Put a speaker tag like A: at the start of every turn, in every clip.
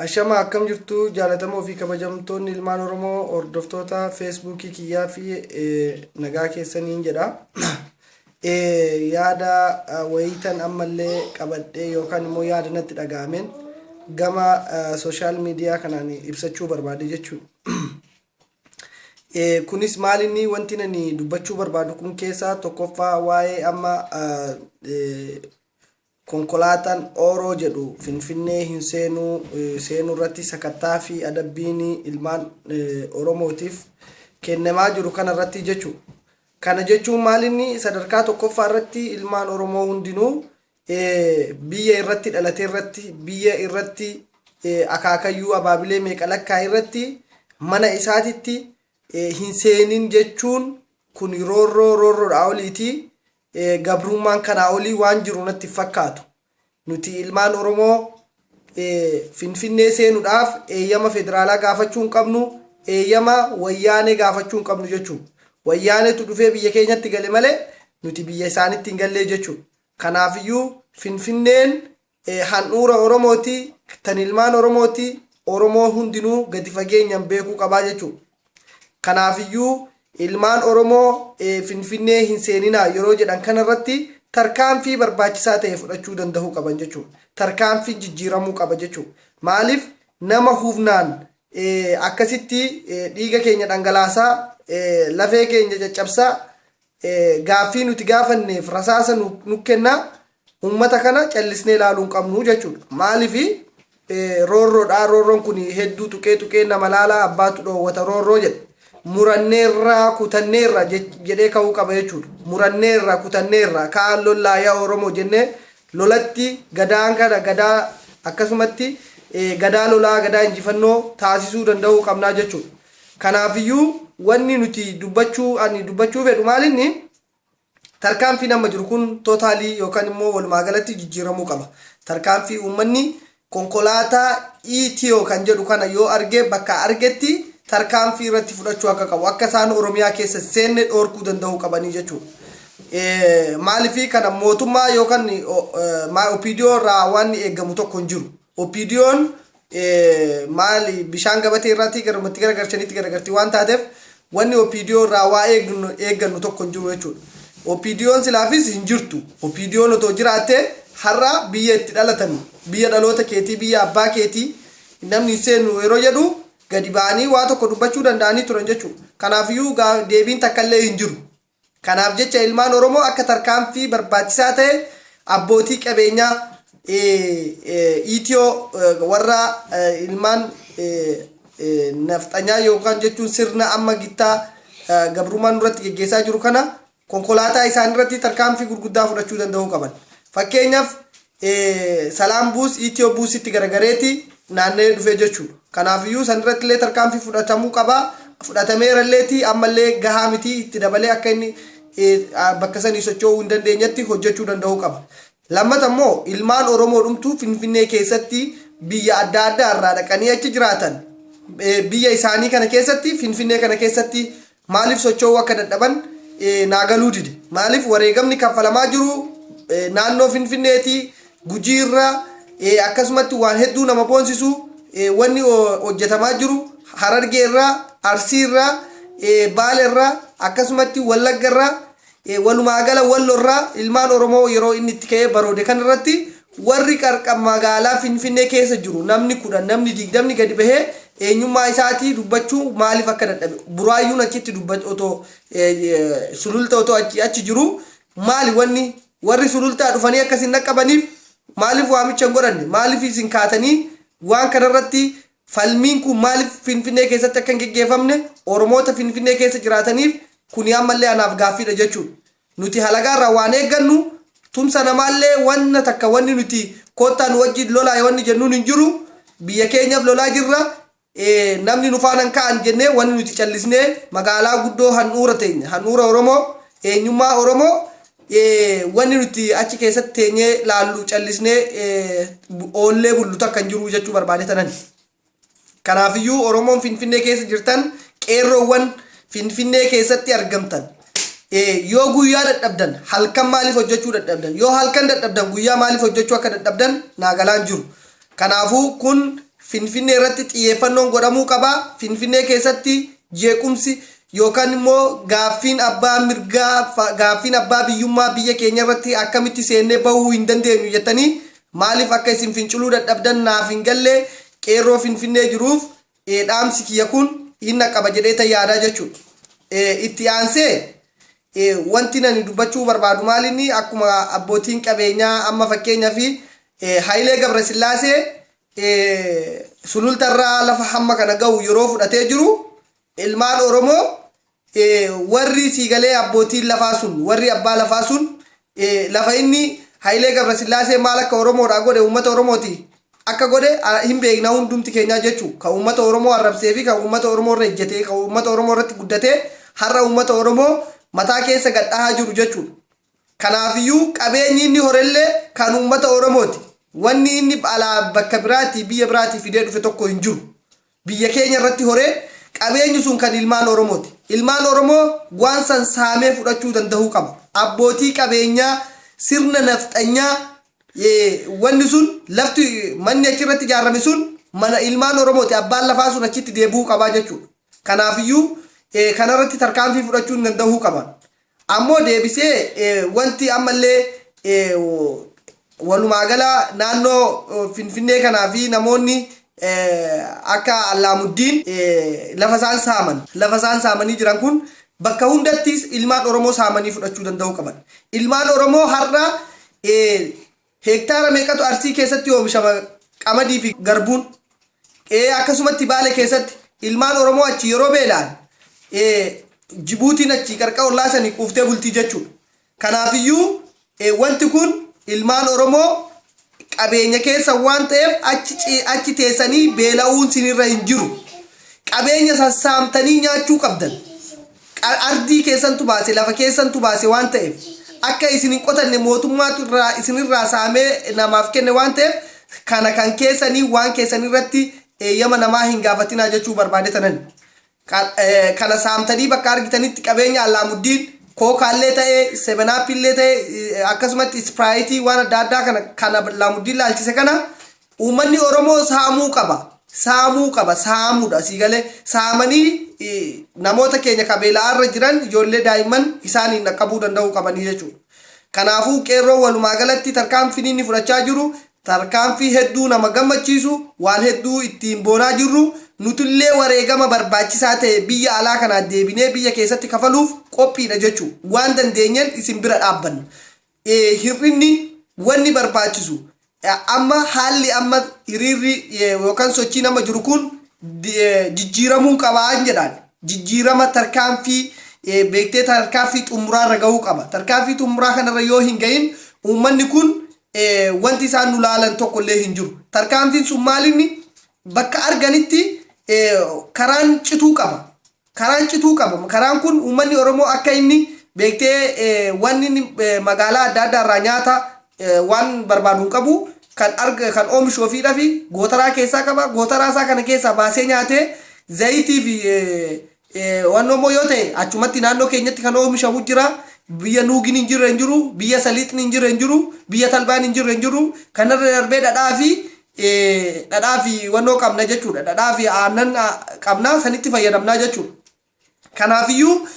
A: Ashama akkam jirtu jaalatamoo fi kabajamtoonni ilmaan Oromoo hordoftoota feesbuukii kiyyaa fi nagaa keessaniin jedha. Yaada wayiitan ammallee qabadhee yookaan immoo yaada natti dhaga'ameen gama sooshaal miidiyaa kanaan ibsachuu barbaade jechuudha. Kunis maal inni wanti ani dubbachuu barbaadu kun keessaa tokkoffaa waa'ee amma Konkolaataan Ooroo jedhu Finfinnee hin seenuu seenuu irratti sakattaa fi adabbiin ilmaan Oromootiif kennemaa jiru kana irratti jechu. Kana jechuun maal inni sadarkaa tokkoffaa irratti ilmaan Oromoo hundinuu biyya irratti dhalate irratti biyya irratti akaakayyuu abaabilee meeqa lakkaa irratti mana isaatitti hin seenin jechuun kun roorroo roorroodhaa oliitii Gabruummaan kanaa olii waan jiru natti hin fakkaatu. Nuti ilmaan Oromoo Finfinnee seenudhaaf eeyyama federaalaa gaafachuu hin qabnu, eeyyama Wayyaanee gaafachuu hin qabnu jechuudha. Wayyaaneetu dhufee biyya keenyatti gale malee nuti biyya isaanitti hin gallee jechuudha. Kanaafiyyuu Finfinneen handhuura Oromooti, tan ilmaan Oromooti, Oromoo hundinuu gadi fageenyan beekuu qaba jechuu. Kanaafiyyuu ilmaan Oromoo Finfinnee hin seeninaa yeroo jedhan kana irratti tarkaanfii barbaachisaa ta'e fudhachuu dandahuu qaban jechuu. Tarkaanfiin jijjiiramuu qaba jechuu. Maaliif nama hufnaan akkasitti dhiiga keenya dhangalaasaa, lafee keenya caccabsaa, gaaffii nuti gaafanneef rasaasa nu kennaa uummata kana callisnee ilaaluu hin qabnu jechuudha. Maaliif roorroodha roorroon kun hedduu tuqee tuqee nama laalaa abbaatu dhoowwata roorroo jedhe. Muranneerraa kutanneerra jedhee ka'uu qaba jechuudha. Muranneerra kutanneerra kaan lollaa yaa Oromoo jennee lolatti gadaan kana gadaa akkasumatti gadaa lolaa gadaa injifannoo taasisuu danda'uu qabnaa jechuudha. Kanaafiyyuu wanni nuti dubbachuu ani dubbachuu fedhu maalinni, tarkaanfiin amma jiru kun totally yookan immoo walumaa galatti jijjiiramuu qaba. Tarkaanfii uummanni konkolaataa ETO kan jedhu kana yoo arge bakka argetti tarkaanfii irratti fudhachuu akka qabu, akka isaan Oromiyaa keessa hin seenne dhoorkuu danda'uu qabanii jechuudha. Maaliif kana mootummaa yookan my OPDO irraa waanni eegamu tokko hin jiru. OPDOn maali bishaan gabatee irraatii garuma itti garagarchanitti garagarti waan taateef wanni OPDO irraa waa eegnu eeggannu tokko hin jiru jechuudha. OPDOn silaafis hin jirtu. OPDOn otoo jiraattee har'a biyya itti dhalatame biyya dhaloota keetii biyya abbaa keetii namni hin seenu yeroo jedhu gadi ba'anii waa tokko dubbachuu danda'anii turan jechuudha. Kanaafiyyuu gaa- deebiin takkallee hin jiru. Kanaaf jecha ilmaan Oromoo akka tarkaanfii barbaachisaa ta'e abbootii qabeenyaa Ethio warra ilmaan nafxanyaa yookaan jechuun sirna amma gittaa gabrummaa nurratti geggeessaa jiru kana konkolaataa isaanirratti tarkaanfii gurguddaa fudhachuu danda'uu qaban. Fakkeenyaaf Salaam Buus Ethio Buusitti garagareeti naanna'ee dhufe jechuudha. Kanaafiyyuu sanirrattillee tarkaanfii fudhatamuu qaba. Fudhatameeralleeti ammallee gahaa miti itti dabalee akka inni bakka sanii socho'uu hin dandeenyetti hojjechuu danda'uu qaba. Lammata immoo ilmaan Oromoo dhumtuu Finfinnee keessatti biyya adda addaa irraa dhaqanii achi jiraatan biyya isaanii kana keessatti Finfinnee kana keessatti Maaliif socho'uu akka dadhaban naa galuu dide. Maaliif wareegamni kaffalamaa jiru naannoo Finfinneeti, Gujii irra, akkasumatti waan hedduu nama boonsisu wanni hojjetamaa jiru Harargee irraa, Arsii irraa, Baale irraa, akkasumatti Wallagga irraa Walumaagala Wallo irraa ilmaan Oromoo yeroo inni itti ka'ee baroode kana irratti warri qarqa magaalaa Finfinnee keessa jiru namni 10, namni 20 gadi bahee eenyummaa isaatii dubbachuu maaliif akka dadhabe, Buraayyuun achitti dubbat otoo Sululta otoo achi achi jiru maali wanni warri Sulultaa dhufanii akka isin dhaqqabaniif maaliif waamicha hin godhanne, maaliif isin kaatanii waan kana irratti Falmiin kun maaliif Finfinnee keessatti akka hin geggeeffamne Oromoota Finfinnee keessa jiraataniif kuni ammallee anaaf gaaffiidha jechuudha. Nuti halagaarraa waan eeggannu tumsa namaallee wanna takka wanni nuti koottaa nu wajjiin lolaa wanni jennuun hin jiru. Biyya keenyaf lolaa jirra. Namni nu faana hin ka'an jennee wanni nuti callisnee magaalaa guddoo handhuura teenya, handhuura Oromoo, eenyummaa Oromoo wanni nuti achi keessatti teenyee laallu callisnee oollee bullu takka hin jiru jechuu barbaade tanani. Kanaafiyyuu Oromoon Finfinnee keessa jirtan qeerroowwan Finfinnee keessatti argamtan yoo guyyaa dadhabdan halkan maaliif hojjechuu dadhabdan yoo halkan dadhabdan guyyaa maaliif hojjechuu akka dadhabdan naagalaan jiru. Kanaafuu kun Finfinnee irratti xiyyeeffannoon godhamuu qaba. Finfinnee keessatti jeequmsi yookaan immoo gaaffiin abbaa mirgaa, fa- gaaffiin abbaa biyyummaa biyya keenya irratti akkamitti seennee bahuu hin dandeenyu jettanii maaliif akka isin finciluu dadhabdan naaf hin galle qeerroo Finfinnee jiruuf ee, dhaamsi kiyya kun hin dhaqqaba jedhee tan yaadaa jechuudha. Ee, Itti aansee ee, wanti nani dubbachuu barbaadu maalinni akkuma abbootiin qabeenyaa amma fakkeenyaaf ee, Hayilee Gabrasillaasee ee, sulultarraa lafa hamma kana ga'u yeroo fudhatee jiru ilmaan Oromoo warri sii galee abbootiin lafaa sun warri abbaa lafaa sun lafa inni Hayilee Gabrasillaasee maal akka Oromoodhaa godhe uummata Oromooti akka godhe hin beekna hundumti keenyaa jechu kan uummata Oromoo arrabsee fi kan uummata Oromoo irra ejjetee kan uummata Oromoo irratti guddatee har'a uummata Oromoo mataa keessa gad dhahaa jiru jechuudha. Kanaafiyyuu qabeenyi inni horellee kan uummata Oromooti. Wanni inni alaa bakka biraatii biyya biraatii fidee dhufe tokko hin jiru. biyya keenya irratti horee qabeenyi sun kan ilmaan Oromooti. Ilmaan Oromoo waan san saamee fudhachuu dandahuu qaba. Abbootii qabeenyaa sirna nafxanyaa wanni sun lafti manni achi irratti ijaarame sun mana ilmaan Oromooti. Abbaan lafaa sun achitti deebi'uu qabaa jechuudha. Kanaafiyyuu kanarratti tarkaanfii fudhachuu hin dandahuu qaban. Ammoo deebisee wanti ammallee walumaagala naannoo Finfinnee kanaa fi namoonni akka Allaamuddiin lafa isaan saaman, lafa isaan saamanii jiran kun bakka hundatti ilmaan Oromoo saamanii fudhachuu danda'uu qaban. Ilmaan Oromoo har'a Hektaara meeqatu Arsii keessatti oomishama Qamadii fi Garbuun? e Akkasumatti Baale keessatti ilmaan Oromoo achii yeroo beela'an e Jibuutiin achii qarqa ollaa sanii quuftee bultii jechuudha. Kanaafiyyuu e wanti kun ilmaan Oromoo qabeenya keessan waan ta'eef achi ci achi teessanii beela'uun sinirra hin jiru. Qabeenya san saamtanii nyaachuu qabdan. Qa, ardii keessantu baase, lafa keessantu baase waan ta'eef, akka isin hin qotanne mootummaatu irraa isin irraa saamee namaaf kenne waan ta'eef, kana kan keessanii waan keessanii irratti eeyyama namaa hin gaafatinaa jechuu barbaade tanani. Qa, kana saamtanii bakka argitanitti qabeenya Allaamuddiin, kookaa illee ta'e, sevenaapii illee ta'e, akkasumatti ispiraayitii waan adda addaa kana kan Allaamuddiin laalchise kana Uummanni Oromoo saamuu qaba. Saamuu qaba. Saamuudha. Sii galee saamanii namoota keenya ka beela'aarra jiran ijoollee daa'imman isaaniin dhaqqabuu danda'uu qabanii jechuudha. Kanaafuu qeerroo walumaa galatti tarkaanfiin inni fudhachaa jiru tarkaanfii hedduu nama gammachiisu waan hedduu ittiin boonaa jirru nutillee wareegama barbaachisaa ta'e biyya alaa kanaa deebinee biyya keessatti kafaluuf qophiidha jechuu waan dandeenyeen isin bira dhaabbanna. hir'inni wanni barbaachisu amma haalli amma hiriirri yookaan sochiin amma jiru kun jijjiiramuu qaba jedhaan jijjiirama tarkaanfii beektee tarkaanfii xumuraarra gahuu qaba. Tarkaanfii xumuraa kanarra yoo hin gahin uummanni kun wanti isaan nu laalan tokko illee hin jiru. Tarkaanfiin sun maalinni bakka arganitti karaan cituu qaba. Karaan cituu qaba. Karaan kun uummanni Oromoo akka inni beektee waan inni magaalaa adda addaa irraa nyaata waan barbaadu hin qabu. Kan arga kan oomishu ofiidha fi gootaraa keessaa qaba. Gootaraa isaa kana keessaa baasee nyaatee zayitii fi waan immoo yoo ta'e achumatti naannoo keenyatti kan oomishamu jira. Biyya nuugin hin jirre hin jiru, biyya saliixni hin jirre hin jiru, biyya talbaan hin jirre hin jiru. Kanarra darbee dhadhaa fi dhadhaa fi wannoo qabna jechuudha. Dhadhaa fi aannan qabna sanitti fayyadamna jechuudha. Kanaafiyyuu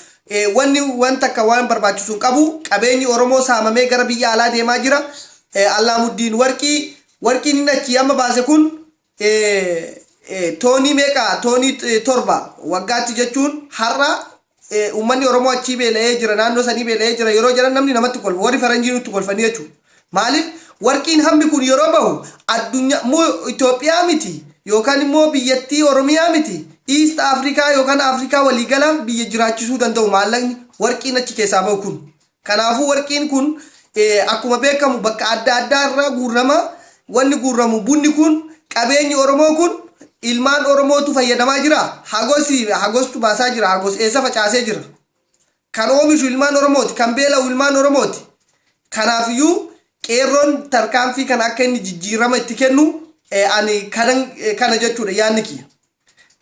A: wanni waan takka waan barbaachisu hin qabu qabeenyi Oromoo saamamee gara biyya alaa deemaa jira. Allaamuddiin warqii warqiin inni achi amma baase kun toonii meeqa toonii torba waggaatti jechuun har'a Uummanni Oromoo achii beela'ee jira, naannoo sanii beela'ee jira yeroo jedhan namni namatti kolfa. Warri faranjii nutti kolfanii jechuudha. Maaliif warqiin hammi kun yeroo bahu addunyaa moo Itoophiyaa miti yookaan immoo biyyattii Oromiyaa miti East Afrikaa yookaan Afrikaa waliigalaa biyya jiraachisuu danda'u maallaqni warqiin achi keessaa bahu kun. Kanaafuu warqiin kun akkuma beekamu bakka adda addaa irraa guurrama. Wanni guurramu bunni kun qabeenyi Oromoo kun ilmaan Oromootu fayyadamaa jira. Hagosi hagostu baasaa jira. Hagos eessa facaasee jira. Kan oomishu ilmaan Oromooti. Kan beela'u ilmaan Oromooti. Kanaafiyyuu qeerroon tarkaanfii kana akka inni jijjiirama itti kennu ani kana jechuudha yaadni kiyya.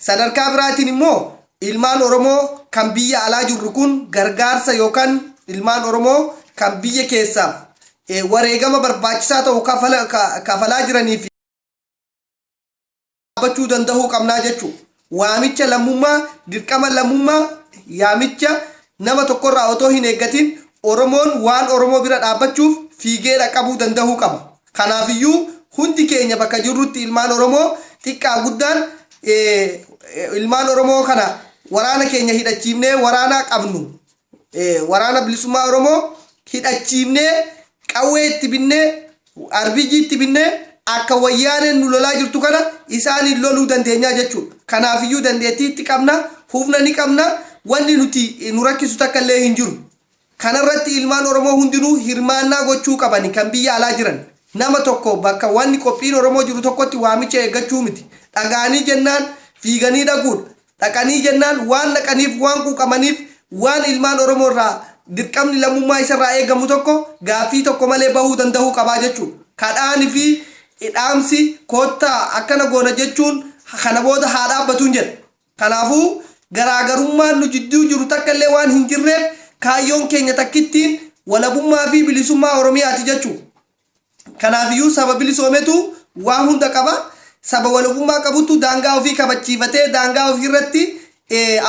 A: Sadarkaa biraatiin immoo ilmaan Oromoo kan biyya alaa jirru kun gargaarsa yookaan ilmaan Oromoo kan biyya keessaaf wareegama barbaachisaa ta'u kafalaa jiraniif dhaabbachuu danda'uu qabnaa jechuu waamicha lammummaa dirqama lammummaa yaamicha nama tokkorraa otoo hin eeggatiin Oromoon waan Oromoo bira dhaabbachuuf fiigee dhaqqabuu danda'uu qaba. Kanaafiyyuu hundi keenya bakka jirrutti ilmaan Oromoo xiqqaa guddaan ilmaan Oromoo kana waraana keenya hidhachiifnee waraanaa qabnu waraana bilisummaa Oromoo hidhachiifnee qawwee itti binnee RBG itti binnee akka wayyaaneen nu lolaa jirtu kana isaaniin loluu dandeenyaa jechuudha. Kanaafiyyuu dandeettii itti qabna, humna ni qabna, wanni nuti nu rakkisu takka illee hin jiru. Kanarratti ilmaan Oromoo hundinuu hirmaannaa gochuu qabani kan biyya alaa jiran nama tokko bakka wanni qophiin Oromoo jiru tokkotti waamicha eeggachuu miti dhaga'anii jennaan fiiganii dhaquudha dhaqanii jennaan waan dhaqaniif waan quuqamaniif waan ilmaan Oromoo irraa dirqamni lammummaa isarraa eegamu tokko gaaffii tokko malee bahuu danda'uu qabaa jechuudha kadhaan fi dhaamsi kottaa akkana goona jechuun kana booda haa dhaabbatuun jedha. Kanaafuu, garaagarummaan nu jidduu jiru takka illee waan hin jirreef, kaayyoon keenya takkittiin walabummaa fi bilisummaa Oromiyaa ti jechuu dha. Kanaaf iyyuu saba bilisoome tu waan hunda qaba. Saba walabummaa qabu tu daangaa ofii kabachiifatee daangaa ofii irratti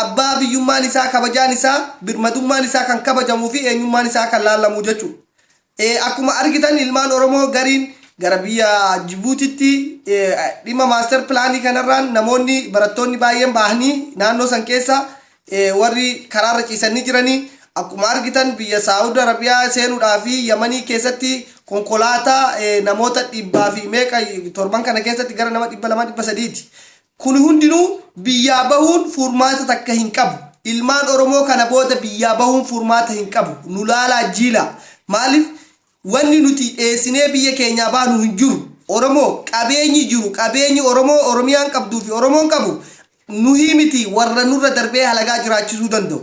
A: abbaa biyyummaan isaa, kabajaan isaa, birmadummaan isaa kan kabajamuu fi eenyummaan isaa kan laallamu jechuu dha. Akkuma argitan ilmaan Oromoo gariin gara biyya Jibuutitti dhimma maaster pilaanii kanarraan namoonni barattoonni baay'een bahanii naannoo san keessa warri karaarra ciisanii jiranii akkuma argitan biyya Saawud Arabiyaa seenuudhaa fi Yamanii keessatti konkolaataa namoota dhibbaa fi meeqa torban kana keessatti gara nama dhibba lama dhibba sadiiti Kun hundinuu biyyaa bahuun furmaata takka hin qabu. Ilmaan Oromoo kana booda biyyaa bahuun furmaata hin qabu. Nu laalaa jiilaa. Maaliif wanni nuti dheessinee biyya keenyaa baanu hin jiru. Oromoo, qabeenyi jiru, qabeenyi Oromoo, Oromiyaan qabduu fi Oromoon qabu nuhii mitii warra nurra darbee halagaa jiraachisuu danda'u.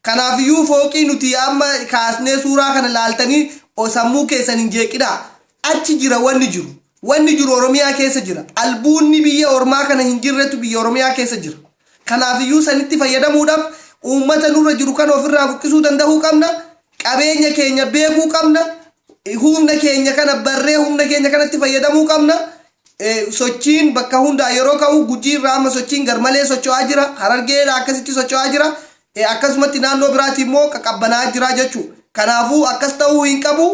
A: Kanaafiyyuu fooqii nuti amma kaasnee suuraa kana laaltanii sammuu keessan hin jeeqinaa. Achi jira wanni jiru. Wanni jiru Oromiyaa keessa jira. Albuunni biyya ormaa kana hin jirretu biyya Oromiyaa keessa jira. Kanaafiyyuu sanitti fayyadamuudhaaf uummata nurra jiru kana ofirraa buqqisuu dandahuu qabna. Qabeenya keenya beekuu qabna. Humna keenya kana barree humna keenya kanatti fayyadamuu qabna. Sochiin bakka hundaa yeroo ka'u Gujii irraa amma sochiin garmalee socho'aa jira. Harargee irraa akkasitti socho'aa jira. Akkasumatti naannoo biraatii immoo qaqqabbanaa'aa jira jechuudha. Kanaafuu akkas ta'uu hin qabu.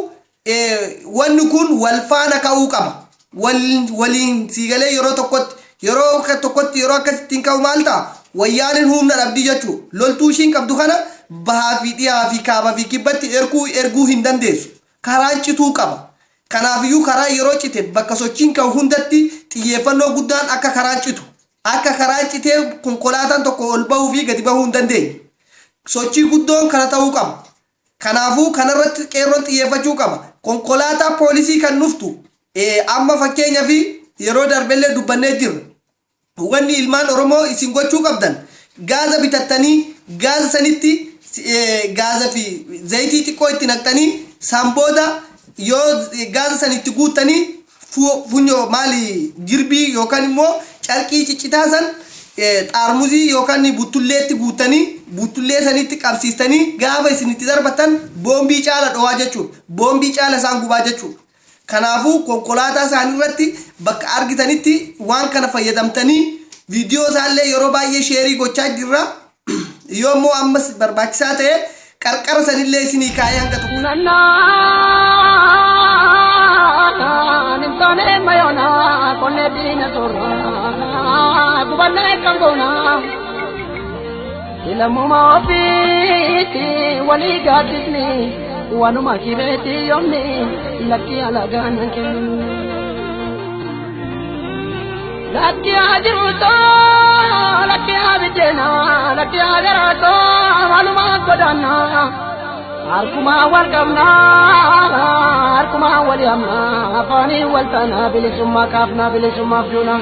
A: Wanni kun wal faana ka'uu qaba. Waliin siigalee yeroo tokkotti yeroo tokkotti yeroo akkasitti hin ka'u maal ta'a? Wayyaaneen humna dhabdi jechuudha. Loltuu ishiin qabdu kana bahaa fi dhihaa fi kaabaa fi kibbatti erguu hin dandeessu. Karaan cituu qaba. Kanaafiyyuu karaan yeroo cite bakka sochiin ka'u hundatti xiyyeeffannoo guddaan akka karaan citu, akka karaan citee konkolaataan tokko ol bahuu fi gadi bahuu hin dandeenye. Sochii guddoon kana ta'uu qaba. Kanaafuu kanarratti qeerroon xiyyeeffachuu qaba. Konkolaataa poolisii kan dhuftu amma fakkeenyafi yeroo darbellee dubbannee jirra. Wanni ilmaan oromoo isin gochuu qabdan gaaza bitattanii gaaza sanitti gaaza fi zayitii xiqqoo itti naqxanii san booda yoo gaaza san itti guuttanii funyoo maali jirbii yookaan immoo carqii ciccitaa san xaarmuzii yookaan buttulleetti guuttanii buttullee sanitti qabsiistanii gaafa isin itti darbattan boombii caala dhowaa jechuudha boombii caala isaan gubaa jechuudha. Kanaafuu konkolaataa isaanii irratti bakka argitanitti waan kana fayyadamtanii viidiyoo isaa illee yeroo baay'ee sheerii gochaa jirra. Yoo immoo ammas barbaachisaa ta'e qarqara sanillee isinii kaa'ee hanga tokko. Nannaan hin taane mayoona qonnee diina
B: soorraa gubannee kan goonaa. Ilammuma ofiiti walii gaaddisni waanuma kireeti yoomni lakkii alagaan hin kennu. Lakkii haa jiruutoo lakkii haa biddeenaa lakkii haa garaatoo maaluma godaannaa. Harkuma wal qabnaa harkuma wal yaamnaa afaanii wal taanaa bilisummaa kaafnaa bilisummaaf duunaa.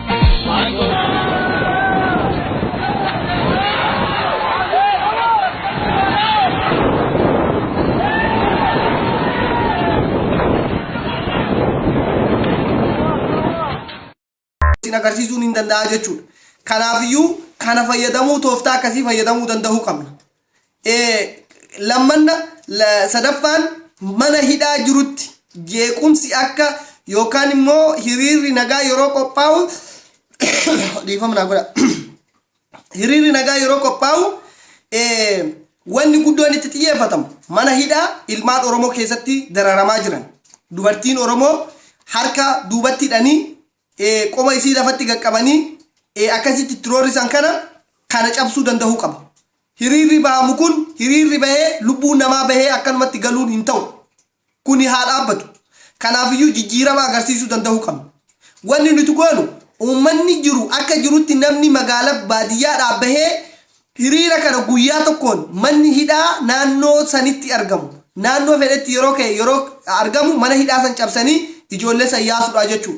A: ittiin agarsiisuun hin danda'a jechuudha. Kanaafiyyuu kana fayyadamuu tooftaa akkasii fayyadamuu danda'uu qabna. Eh, lammanna la- sadaffaan mana hidhaa jirutti jeequmsi akka yookaan immoo hiriirri nagaa yeroo qophaa'u dhiifama naa godha. hiriirri nagaa yeroo qophaa'u eh, wanni guddoon itti xiyyeeffatamu mana hidhaa ilmaan Oromoo keessatti dararamaa jiran dubartiin Oromoo harka duubatti hidhanii ee qoma isii lafatti gad qabanii ee akkasitti itti roorrisan kana kana cabsuu dandahuu qaba. Hiriirri bahamu kun hiriirri bahee lubbuun namaa bahee akkanumatti galuun hin tahu. Kuni haa dhaabbatu. Kanaafiyyuu jijjiirama agarsiisuu dandahuu qabna. Wanni nuti goonu uummanni jiru akka jirutti namni magaala baadiyyaadhaa bahee Hiriira kana guyyaa tokkoon manni hidhaa naannoo sanitti argamu naannoo fedhetti yeroo ka'e yeroo argamu mana hidhaa san cabsanii ijoollee san yaasuudha jechuu.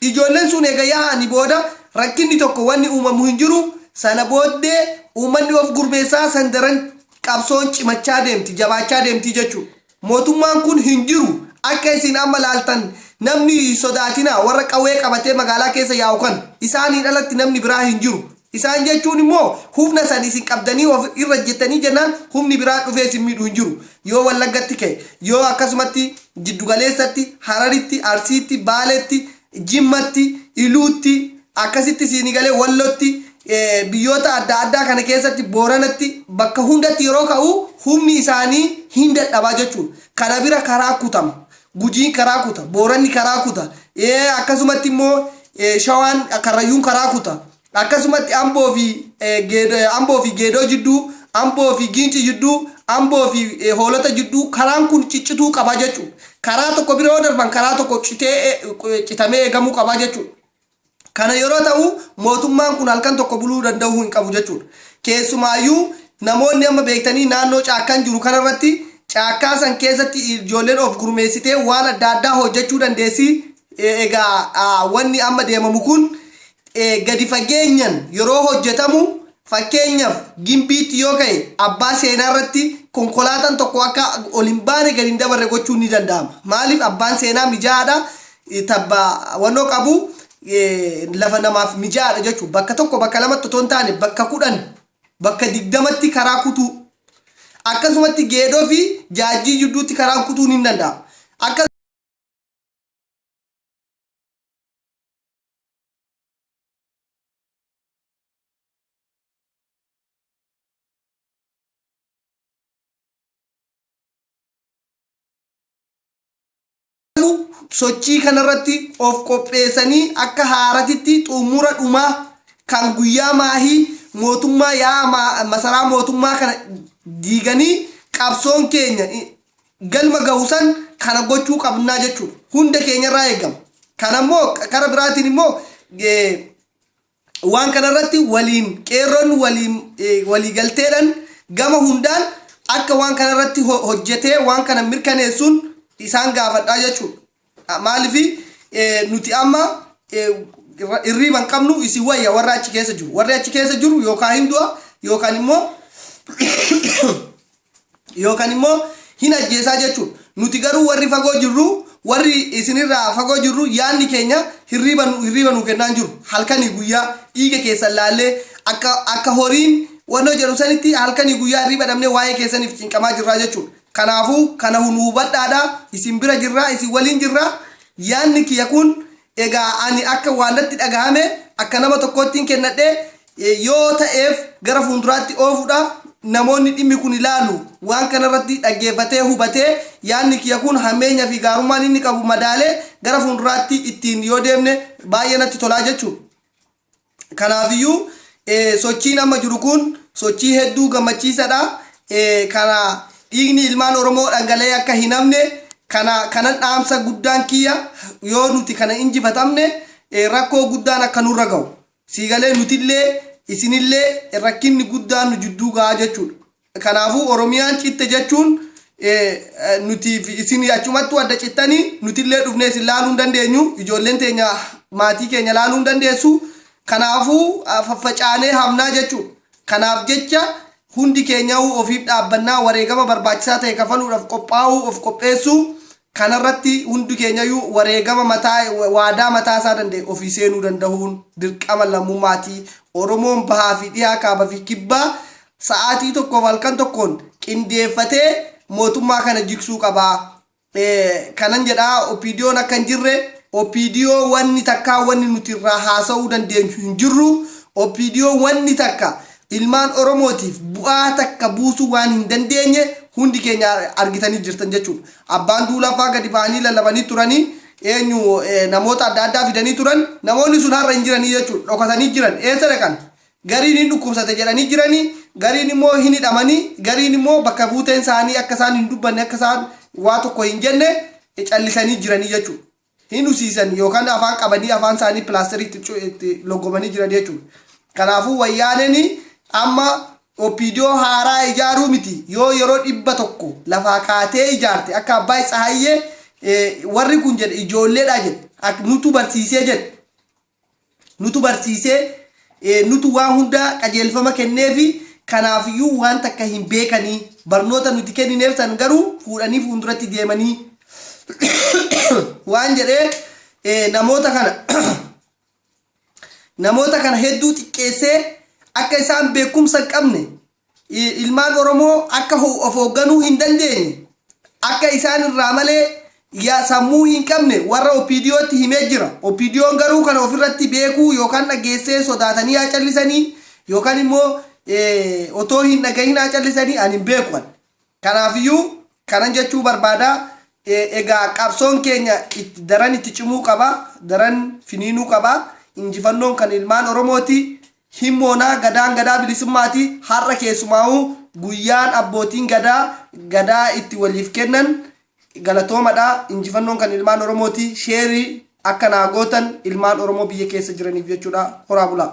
A: Ijoolleen sun eega yaa'ani booda rakkinni tokko wanni uumamu hin jiru sana booddee uummanni of gurmeessaa san daran qabsoon cimachaa deemti, jabaachaa deemti jechuudha. Mootummaan kun hin jiru. Akka isin amma laaltan namni hin sodaatinaa, warra qawwee qabatee magaalaa keessa yaa'u kana. Isaaniin alatti namni biraa hin jiru. Isaan jechuun immoo humna san isin qabdanii of irra ejjettanii jennaan humni biraa dhufee isin miidhu hin jiru. Yoo Wallaggatti ka'e, yoo akkasumatti jiddu galeessatti, Hararitti, Arsiitti, Baaleetti, Jimmatti, Iluutti, akkasitti siinii galee Wallotti, biyyoota adda addaa kana keessatti Booranatti bakka hundatti yeroo ka'u humni isaanii hin dadhaba jechuudha. Kana bira karaa kutama. Gujiin karaa kuta, Booranni karaa kuta, akkasumatti immoo Shawaan, Karrayyuun karaa kuta. Akkasumatti Amboo fi Amboo fi Geedoo jidduu, Amboo fi Giincii jidduu, Amboo fi Hoolota jidduu karaan kun ciccituu qaba jechuudha. Karaa tokko bira yoo darban karaa tokko citee citamee eegamuu qaba jechuudha. Kana yeroo ta'u mootummaan kun halkan tokko buluu danda'uu hin qabu jechuudha. Keessumaayyuu namoonni amma beektanii naannoo caakkaan jiru kanarratti caakkaa san keessatti ijoolleen of gurmeessitee waan adda addaa hojjechuu dandeessi Egaa wanni amma deemamu kun gadi fageenyan yeroo hojjetamu fakkeenyaf Gimbiitti yoo ka'e abbaa seenaa irratti konkolaatan tokko akka ol hin baane gadi hin dabarre gochuun ni danda'ama. Maaliif abbaan seenaa mijaa'aadha tabba wannoo qabu lafa namaaf mijaa'aadha jechu bakka tokko bakka lamatti otoo hin taane bakka kudhan bakka digdamatti karaa kutuu akkasumatti geedoo fi jaajjii jidduutti karaan kutuun hin danda'ama. Akka sochii kanarratti of qopheessanii akka haaratitti xumura dhumaa kan guyyaa maahii mootummaa yaa masaraa mootummaa kana diiganii qabsoon keenya galma gahu san kana gochuu qabnaa jechuudha. Hunda keenya irraa eegama. Kana immoo kara biraatiin immoo waan kana irratti waliin qeerroon waliin walii galteedhaan gama hundaan akka waan kana irratti hojjetee waan kana mirkaneessuun isaan gaafadhaa jechuudha. Maaliif nuti amma irriiba hin qabnu isin wayya warra achi keessa jiru. Warri achi keessa jiru yookaan hin du'a yookaan immoo yookaan immoo hin ajjeesaa jechuudha. Nuti garuu warri fagoo jirru warri isinirraa fagoo jirru yaadni keenya hirriiba nu hirriiba nu kennaan jiru. Halkanii guyyaa dhiiga keessan laallee akka akka horiin wannoo jedhu sanitti halkanii guyyaa hirriiba dhabnee waa'ee keessaniif cinqamaa jirraa jechuudha. Kanaafuu, kana nuu hubadhaadha, isin bira jirra, isin waliin jirra. Yaanni kiyya kun egaa ani akka waan natti dhagahame akka nama tokkoottiin kennadhe yoo ta'eef gara fuunduraatti oofudha. Namoonni dhimmi kun ilaalu waan kanarratti dhaggeeffatee hubatee yaanni kiyya kun hammeenya fi gaarummaan inni qabu madaalee gara fuunduraatti ittiin yoo deemne baay'ee natti tolaa jechuudha. Kanaafiyyuu sochiin amma jiru kun sochii hedduu gammachiisadha. Kana dhiigni ilmaan Oromoo dhangala'ee akka hin hafne kana kanan dhaamsa guddaan kiyya yoo nuti kana injifatamne rakkoo guddaan akka nurra gahu siigalee nutillee isinillee rakkinni guddaan nu jidduu gahaa jechuudha. Kanaafuu Oromiyaan citte jechuun nutii fi isin achumattuu adda cittanii nutillee dhufnee isin laaluu hin dandeenyu. Ijoolleen teenya maatii keenya laaluu hin dandeessu. Kanaafuu faffacaanee hafnaa jechuudha. Kanaaf jecha hundi keenyauu ofiif dhaabbannaa wareegama barbaachisaa ta'e kafaluudhaaf qophaa'uu of qopheessuu Kana irratti hundi keenyayyuu wareegama mataa waadaa mataa isaa danda'e ofii seenuu dandahuun dirqama lammumaati. Oromoon bahaa fi dhihaa kaaba fi kibbaa sa'aatii tokkoof halkan tokkoon qindeeffatee mootummaa kana jigsuu qaba. Kanan jedha OPDOn akka hin jirre OPDO wanni takkaa wanni nuti irraa haasa'uu dandeenyu hin jirru. OPDO wanni takka ilmaan Oromootiif bu'aa takka buusuu waan hin dandeenye hundi keenya argitanii jirtan jechuudha. Abbaan Duulaa faa gadi ba'anii lallabanii turanii, eenyu, namoota adda addaa fidanii turan. Namoonni sun har'a hin jiranii jechuu dha. Dhokatanii jiran. Eessa dhaqan? Gariin hin dhukkubsate jedhanii jiranii, gariin immoo hin hidhamanii, gariin immoo bakka buuteen isaanii akka isaan hin dubbanne, akka isaan waa tokko hin jenne callisanii jiranii jechuu dha. hin husiisan yookan afaan qabanii afaan isaanii pilaasterii itti itti loggomanii jiran jechuudha. Kanaafuu wayyaaneen amma OPDO haaraa ijaaruu miti yoo yeroo dhibba tokko lafaa kaatee ijaarte akka Abbaay Tsahayyee warri kun jedhe ijoolleedha jedhe nutu barsiisee jedhe Nutu barsiisee, nutu waan hundaa qajeelfama kenneefi, kanaafiyyuu waan takka hin beekani. Barnoota nuti kennineef san garuu fuudhanii fuunduratti deemanii waan jedhee namoota kana namoota kana hedduu xiqqeessee akka isaan beekumsa hin qabne ilmaan Oromoo akka of hoogganuu hin dandeenye, akka isaan irraa malee ya sammuu hin qabne warra OPDOtti himee jira. OPDOn garuu kana of irratti beekuu yookaan dhaggeessee sodaatanii haa callisanii yookaan immoo otoo hin dhagahin haa callisanii ani hin beeku ani. Kanaafiyyuu kanan jechuu barbaada, egaa qabsoon keenya itti daran itti cimuu qaba, daran finiinuu qaba, injifannoon kan ilmaan Oromooti, hin moona, Gadaan Gadaa Bilisummaati, har'a keessumaa'uu guyyaan abbootiin Gadaa Gadaa itti waliif kennan galatoomadha, injifannoon kan ilmaan Oromooti, share akka naa gootan ilmaan Oromoo biyya keessa jiraniif jechuudha, horaa bulaa.